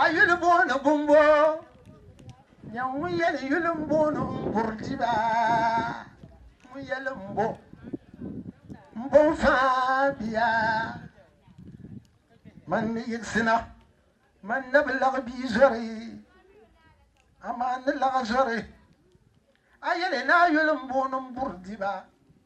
A yuli booni bumbo nyɛ ŋun yɛli yuli n booni n buri diba ŋun yɛli n bo n bo n faa biya man ni yiɣisina man na bi laɣi bia zori amaa ni laɣi zori a yɛli ni a yuli n booni n buri diba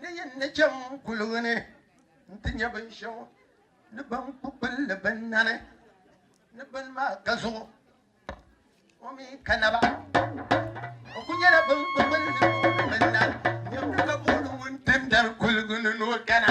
Ni yin ni chaŋ kuligi ni nti nya binshɛɣu ni ban ku kpini li bɛ nani ni bini maa ka zuɣu o mi ka naba. O ku nyɛla ban ku kpini li bɛ nani niriba ka booni ŋun tim dari kuligi ni ni o kana.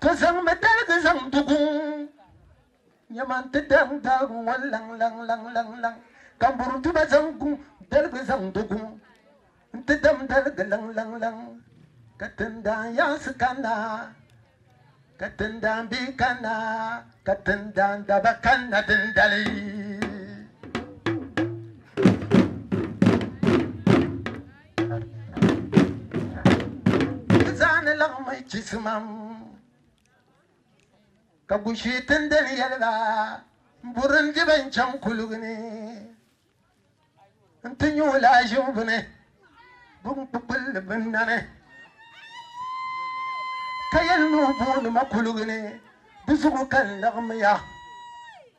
Ti zaŋmi daligi zaŋ du guŋ nyɛma nti daŋ daagi ŋɔ laŋ laŋ laŋ laŋ laŋ ka m buru tuma zaŋ guŋ daligi zaŋ du guŋ nti dam daligi laŋ laŋ laŋ ka tindaan yaansi kanna ka tindaan bihi kanna ka tindaan daba kanna dindali. Zani laŋ mai chisimam ka gushi tindali yɛliba n buri n diba n chaŋ kuligi ni n ti nyu laazim bini bin kpukpulli bin nani ka yɛli ni o booni ma kuligi ni di zuɣu ka n laɣimiya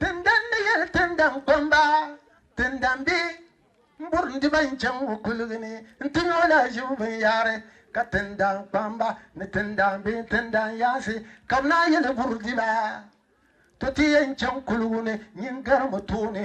Tindan ni yɛli tindan kpamba tindan bɛ n burim di ba n chaŋ o kuligi ni n ti nyɛ o lahiʒibu binyahari ka tindan kpamba ni tindan bɛ tindan yaansi ka bɛ naan yɛli buri di ba to ti yɛn chaŋ kuligi ni nyin garimi tooni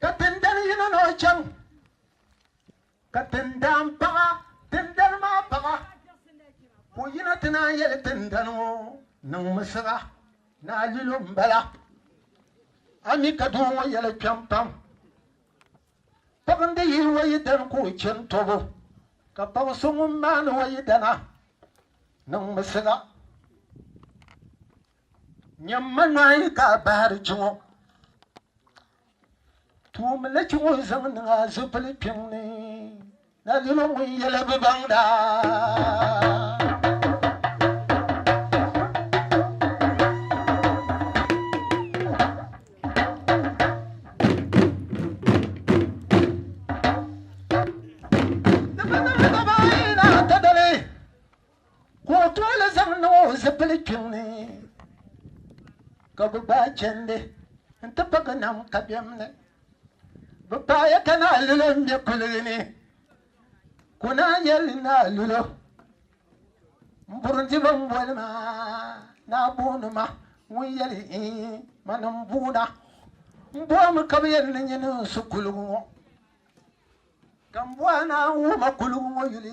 ka tindali yino ni o chaŋ ka tindaan paɣa tindali maa paɣa ka o yina ti naan yɛli tindali ŋɔ niŋmi siɣa ni a lilo n bala a mi ka doo ŋɔ yɛli kpɛm pam paɣa n di yili wayi dani ka o chɛni tɔbu ka paɣa so ŋun maani wayi dana niŋmi siɣa Nyamma nɔhi ka a bahiri kpi ŋɔ. Tuumi li kpi ŋun zaŋ niŋ a zupili kpiŋ ni na lilo ŋun yɛli bi baŋ daa. ka o tooli zaŋ niŋ o zipili kpiŋ ni ka bɛ gbaai chɛndi nti pa bɛ nam kabɛm ni. Bɛ paaya ka naa Lulo ŋme kuligi ni ka o naan yɛli naa Lulo, M burundiba m-boli ma naa booni ma ŋun yɛli iin mani m-boona. M bo a mi ka bɛ yɛn ni nyin n su kuligi ŋɔ ka m bo a ni a wum a kuligi ŋɔ yuli.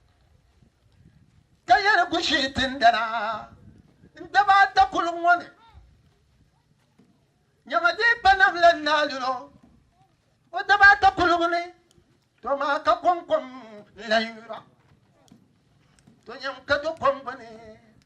ka yɛ di gushii tindana n-daba ata kuliŋ ŋɔ ni. Nyamadeepa nam la n-naai luri o o daba ata kuligu ni, to maa ka kɔŋkom n-lan yuri ba, to nyam ka do kom gbini.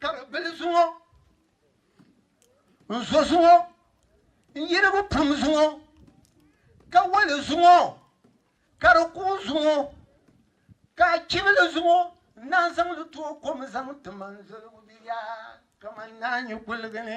Ka bɛ bili zuŋɔ n-zo zuŋɔ n-yirigu pum zuŋɔ ka wali zuŋɔ ka di kuui zuŋɔ ka a chibili zuŋɔ n-naan zaŋ li tooi kom zaŋ ti man zoligu bia kaman naanyu kuligi ni.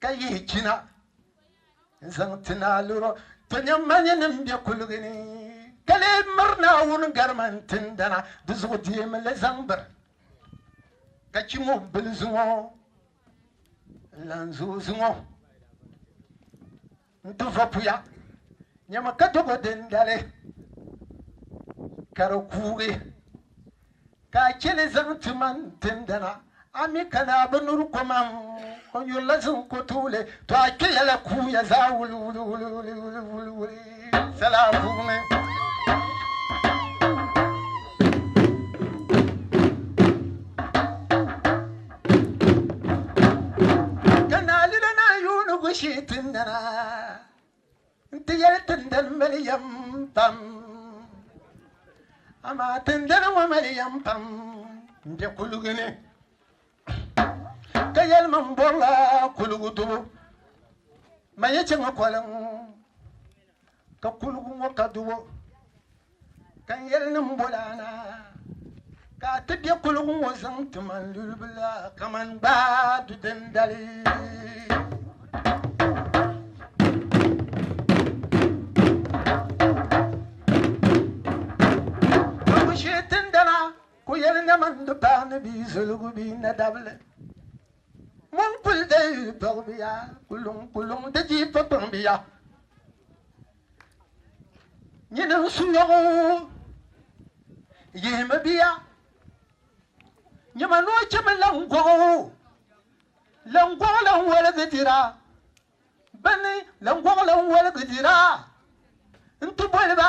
ka yihi china n zaŋ ti naaluro to nyam manyi nim bɛ kuligi ni ka lee miri naawuni garima n tindana di zuɣu deemi li zaŋ biri ka chi mɔbili zuŋɔ n lan zuɣu zuŋɔ N ti vopuya nyɛmi ka dogo dindali ka di kuugi, ka a cheli zaŋ ti ma n tindana, a mi ka ni a bi nuri komam, o nyuri la ziŋ ko tuuli, to a kpeya la kuuya zaa wuliwuliwuliwuliwuli sala puuni. ka naalila na yuuni gushi ti nana n ti yɛli tindani mali yɛm pam amaa tindani ŋɔ mali yɛm pam n bɛ kuligi ni ka yɛli min bɔrila kuligi dubu ma yi chɛ ŋɔ kɔliŋ ka kuligi ŋɔ ka dubu Ka n yɛli ni m boli a na ka a ti be kuligu ŋɔ zaŋ ti ma n lulibila kaman gbaai du dindali. Ka ku shee tindana ku yɛli na mani di paai ni bia zoligu bee nadabili. Mo n-kuli deei yi tɔgbiya, ku luŋ ku luŋ di jiipakpaŋbiya. Nyini n su nyɔgu yihimi biya nyɛma noo chimi lan gɔgu lan gɔgu lan waligi dira bini lan gɔgu lan waligi dira n ti boli ba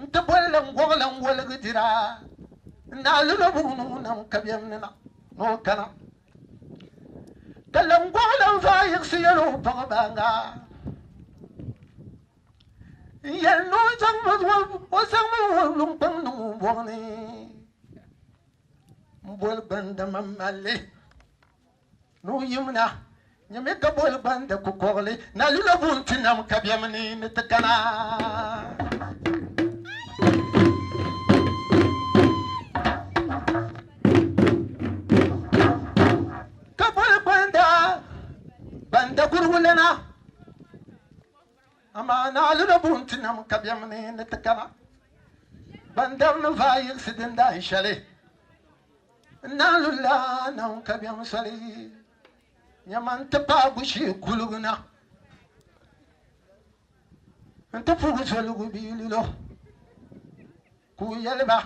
N ti boli la n gɔgila n woligi dira, n daa li lo buɣim ni o nam kabiɛm ni na ni o kana. Ka la n gɔgila n vaa yiɣisi yɛl o baɣibaŋa, n yɛli ni o zaŋmi o wulumkpaŋ niŋ o bɔɣu ni m-boli gbanda mam mali li. Nuhi yimina nyɛmi ka boli gbandi kukɔɣili na lula buŋ ti nam ka bɛmi ni ni ti kana. Ka boli gbanda gbanda kurigu lana amaa na lula buŋ ti nam ka bɛmi ni ni ti kana. Gbandari ni vaai yiɣisi dindaan shɛli. n na lu laanaŋ kabiɛŋ soli nyɛma n-ti paai bushee kuligu na n-ti puhi zoligu bia lilo ka o yɛli ba,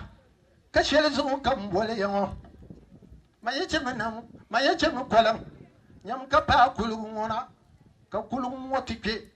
Ka shɛli zuɣu ka m boli ya ŋɔ? Ma yi chɛ mi nam, ma yi chɛ mi koliŋ nyam ka paai kuligu ŋɔ na, ka kuligu ŋɔ ti kpe.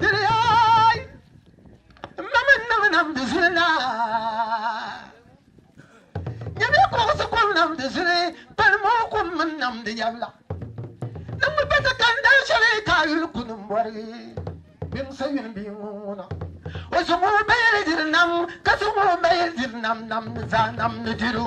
Diriyaay! M ma mini nama nam di zuli na. Nyamiya kuɣisi kom nam di zuli, pali mooi kom mini nam di yabila. Niŋmi pa ti kani dal shɛli ka a yuli kuni m-bɔri Biŋsa yuli bia ŋ-ŋuna. O zaŋ o bayili diri nam, ka zaŋ o bayili diri nam, nam ni zaa nam ni diri o.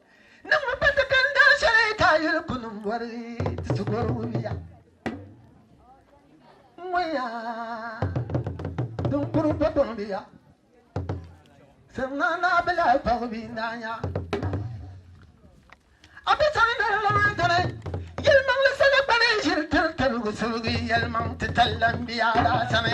Niŋ mi pati ka n daa shɛli taa yuli kuni m bɔri ti ti gɔri wumiya ŋɔya din kuri pa gɔŋbiya sɛŋa naa bi lahi kpagi bi n daa nya a bi sani ni n lahi dini yɛlimaŋli sani kpani n ʒiri tiri tarigu surugi yɛlimaŋ ti talla n biya daa sani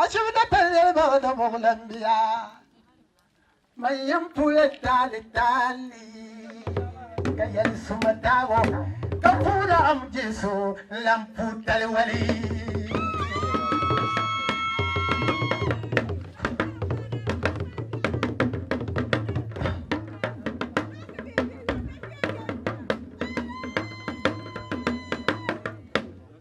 A chibi da pali niriba o da muɣi lan biya man yɛn puya taali taali ka yɛli suma taago ka puuna am jesu lan pu tali wali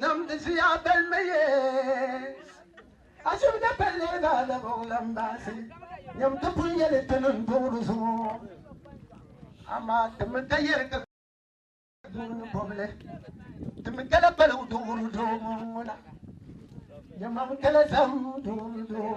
Namdi ziya bɛlimi ye Ashibiti palli Adabugu Lambaasi nyam ti pun yɛli ti ni n-duɣi di zuɣu amaa ti mi dayɛrigi puuni bɔbili ti mi gala paligu duɣiri doo ŋun ŋuna nyamam gala zahim duɣiri doo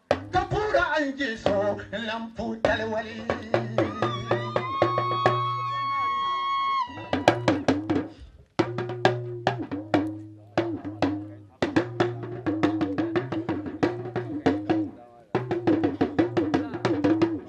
Ka puura n je so n lan pu taliwali.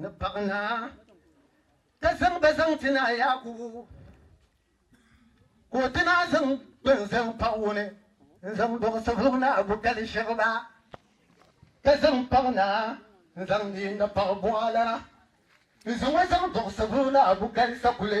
ni paɣ naa, ka zaŋ ba zaŋ ti naa Yaakubu, ka o ti naa zaŋ bɛn zaŋ paɣ o ni n-zaŋ dɔɣi Savelugu Naa Bukali shɛb ba, ka zaŋ paɣ naa n-zaŋ di ni paɣ buɣa la n-zaŋ o zaŋ dɔɣi Savelugu Naa Bukali sakuli.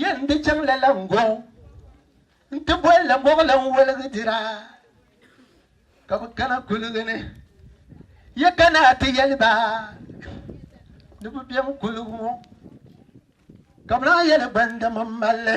Yen di chaŋ lala n gɔŋ n ti boli la moɣili n woligi dira ka bi kana kuligi ni ya kana ti yeli ba ni bi bem kuligi ŋɔ ka bi naan yeli gbandaman malli.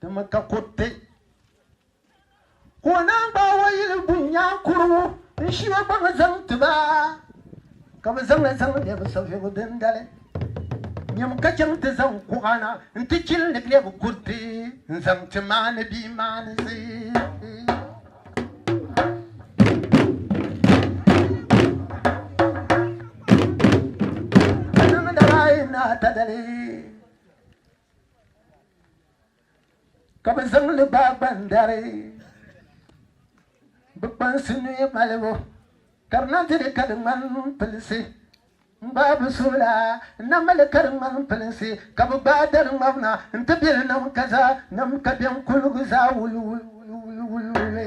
Di mi ka kuriti ka o naan gbaai o yili bu nyaa kurugu n shi o gbaŋ zaŋ ti ba ka bi zaŋ zaŋ lɛbi savigu dindali nyam ka chaŋ ti zaŋ kuɣa na n ti chili ni lɛbi kuriti n zaŋ ti maani bia maanisi. Ka niŋdala yi na ta dali. Ka bɛ zaŋ li gbaai gbandari bɛ kpansi nuhi malibu ka di na ti li ka di ŋmani pilisi n-gbaai bɛ suhu la n-na mali ka di ŋmani pilisi ka bɛ gbaai dari ŋmabina n-ti be li nam ka za nam ka bɛn kuligu zaa wuliwuliwuliwuli.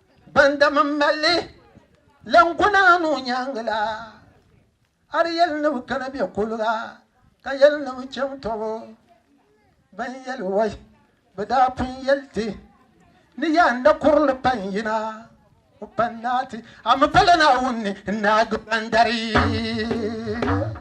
Bandam n malli lan ku naani o nyaangi la, a di yɛli ni bɛ kana bɛ kuliga ka yɛli ni bɛ chaŋ tɔbu. Ban yɛli wai bɛ daa pun yɛli ti ni yaa n da kuri li pa n-yina o pa n-naai ti, a mi pala Naawuni ni n-naagi bandari.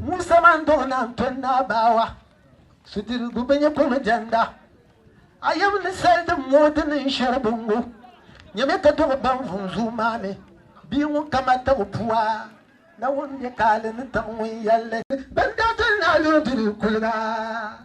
Musa man do na tɔ naa baawa sudirigu bi nyɛ kɔmi jɛnda a yɛm ni sali din moo di niŋ shɛri bi ŋɔ nyɛmi ka dɔɣi ban vum zuu maa mi bia ŋun kama tabu pua na ŋun nyɛ kaali ni taɣi ŋun yɛlli ban daa tɔli naa loo diri kuliga.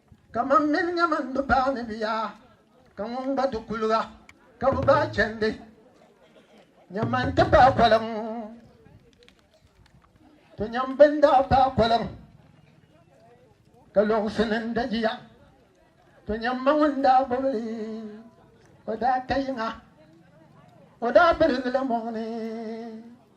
Ka man mini nya man bi baai ni bia, ka ŋun gba di kuliga ka bi baai chɛndi nya man ti paai koliŋ. To nya m bini daa paai koliŋ ka lɔɣisi ni n dagiya. To nya m ma ŋun daa gbubi li, o daa ka yiŋa, o daa birigi li mɔɣu ni.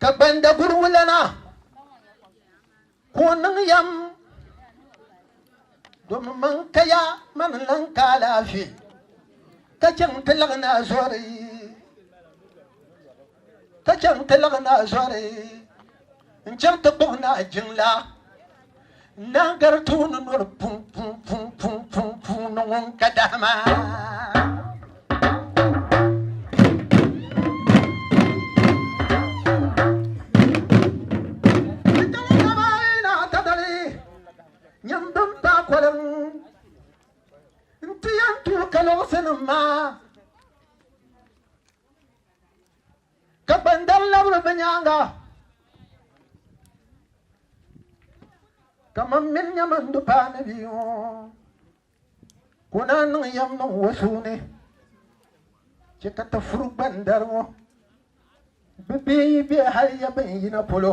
Ka gbandaguriwulana ka o niŋ yɛm domi man kaya mani lan ka alaafee ka chɛŋ ti laɣi naa zɔri ka chɛŋ ti laɣi naa zɔri N chaŋ ti kpuɣi naa jiŋla naa gari tuuni noli pun pun pun pun pun puuni ŋun ka dahima. N chaŋ dama yi naa ta dali nyam bin pa koliŋ n ti yɛn tuui ka luɣusinim maa. Ka kpandari labiri bɛ nyaaŋa, Ka mam min nyɛ man du paani bia ŋɔ, ka o naan niŋ yɛm niŋ o suu ni, chɛ ka ti furi gbandari ŋɔ. Bɛ bee yi be hal ya bɛn yina polo.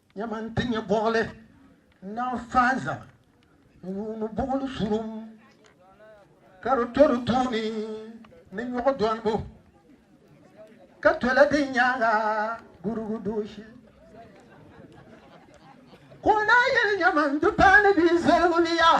Nyama n-ti nyɛ buɣili n-naan faai zaa n-yuuni buɣili surum ka di to di tooni ni nyuɣu dolibu ka tola di nyaaŋa gurugu dooshi. Ka o naai yɛli, Nyama n-ti paai ni bɛ yi zaligi li yaa.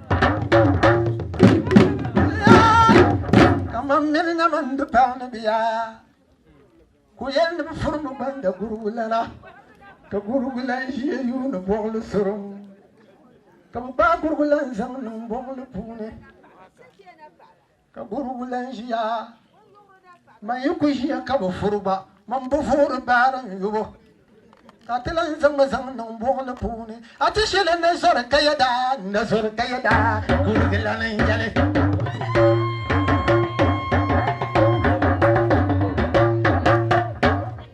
kamani mini na mani di paɣa ni biya ku yɛn ni bi furi mi gbanda gurugu lana ka gurugu lan ʒiya yuuni buɣuli surum ka bi gbaai gurugu lan zaŋ niŋ buɣuli puuni Ka gurugu lan ʒiya, man yi ku ʒiya ka bi furi gba, man bi voori baari n yubu, ka ti lan zaŋmi zaŋ niŋ buɣili puuni. A ti shili ni zɔri ka yɛda, n na zɔri ka yɛda, gurugu lan n yɛli.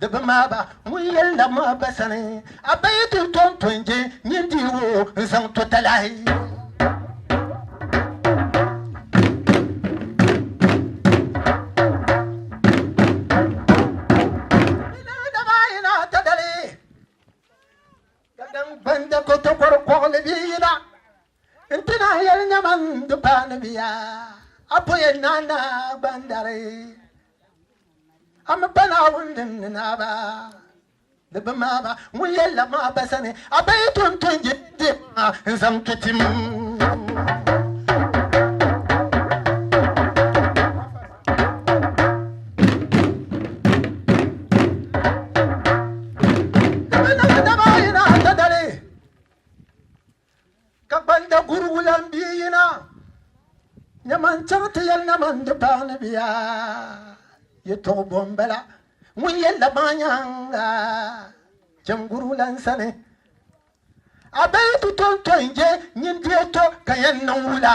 Di bi maa ba ŋun yɛn labi ma ba sani a ba yi ti tom tɔn je nyin di wo n zaŋ to talahi. Gbanda ko tokoro kɔɣili bi yina. N ti naan yɛli nyama n di paai ni bia, a po yɛn naan na gba n dari. A mi pa Naawuni din ni naa ba ni bi maa ba ŋun yɛn lab ma a ba sani, a ba yi ton ton je din ma n zaŋ ti tim. Di bi niŋ dama a yi na a ta dali. Ka gbanda gurigu lan bia yina, nyama n-chaŋ ti yɛli na man di paai ni bia. Yɛtɔɣ bɔ m-bala ŋun yɛli la maa nyaaŋa chani gurigu lan sani? A bee yi ti tɔntɔi n-je nyin di yɛtɔ ka yɛn niŋ wula?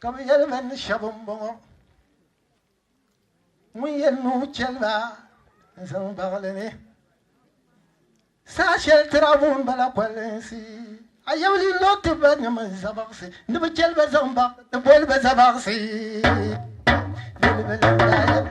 Ka bɛ yɛli bɛ ni shɛba m-bɔŋɔ, Ŋun yɛn nuu chɛli ba n-zaŋ baɣi li ni, saha shɛli tirabu m-bala kolinsi, a yawli lo ti ba ni mini zabaɣisi, ni bɛ chɛli ba zaŋ baɣi ti boli ba zabaɣisi. Yɛli bɛ lan daa yɛli.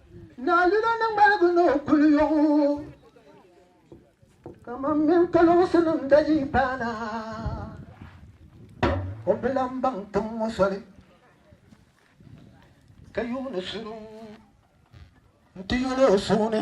Naa Lula ni ŋmaligi ni o kuli yɔg o kaman mini kaloŋsinim dajihi paana, o bi lan baŋ tiŋ ŋɔ soli ka yuuni suri n-ti yoli o suhu ni.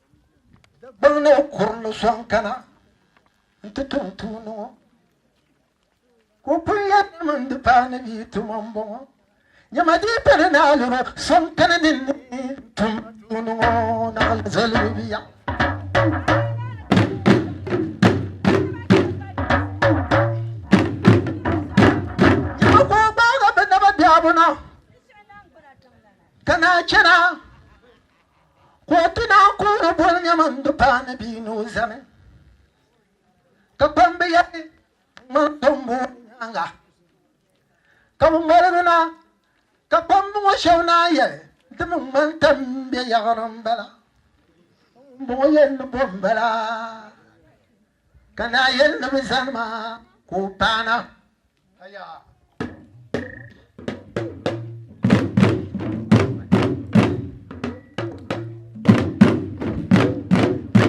Di gbilli o kurili sɔŋ kana nti tum tuuni ŋɔ. Ka o kul yɛli ni mini di paai ni bia tuma m-bɔŋɔ. Nyama di yi pali ni a liri o sɔŋ kani ni ni tum ma tuuni ŋɔ naɣila zalibu bia. Nyama ka o gbaagi bɛ naba biɛhigu na ka naan chana. Ka o ti naan ku o boli nyama n-di baa ni bia ni o zani. Ka kpamba yɛli, Ŋman tombu ŋɔ nyaaŋa ka bɛ ŋmaligi na. Ka kpamba ŋɔ shɛb naan yɛli, Di mi ŋmani tɛm m-be yaɣiri m-bala. Ŋumbɔŋɔ yɛli ni bo m-bala. Ka naa yɛli ni bɛ zani ma ka o paana.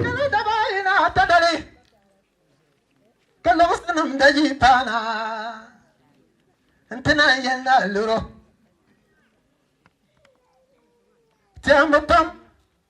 Kala daba ayi na ta dali ka lɔɣusinim da yi paana nti naan yɛli ni a loro. Tɛhimbu pam.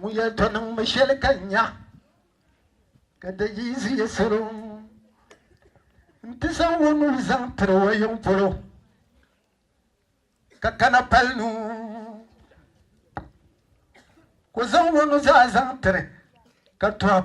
Ŋun yɛn to niŋ mi shɛli ka nya ka da yi ziya salo nti zaŋ o nuu zaŋ tiri o yiŋ polo ka kana pali nuu ko zaŋ o nuzaa zaŋ tiri ka tɔb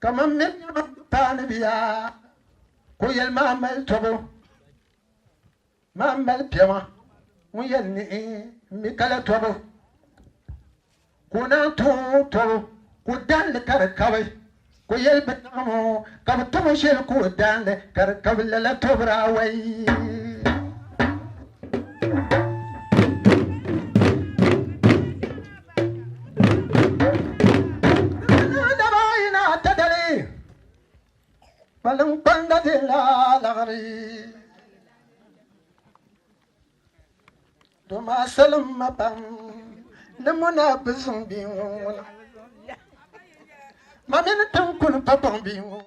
kamar min yaba paani biya ko yɛli maa mali tɔbu maa mali piɛma ŋun yɛli niɣi mi kala tɔbu ka o naan tuhi o tɔbu ka o dahin li ka di kabi, ka o yɛli bɛ naɣim o ka bɛ tom o shɛli ka o dahin li ka di kabi, lala tɔbiri awai. Kpaliŋkpanda be laa laɣiri. Do maa salim ma pam ni muna bi zuŋ bia ŋun ŋuna ma mini tinkuni pa baŋ bia ŋun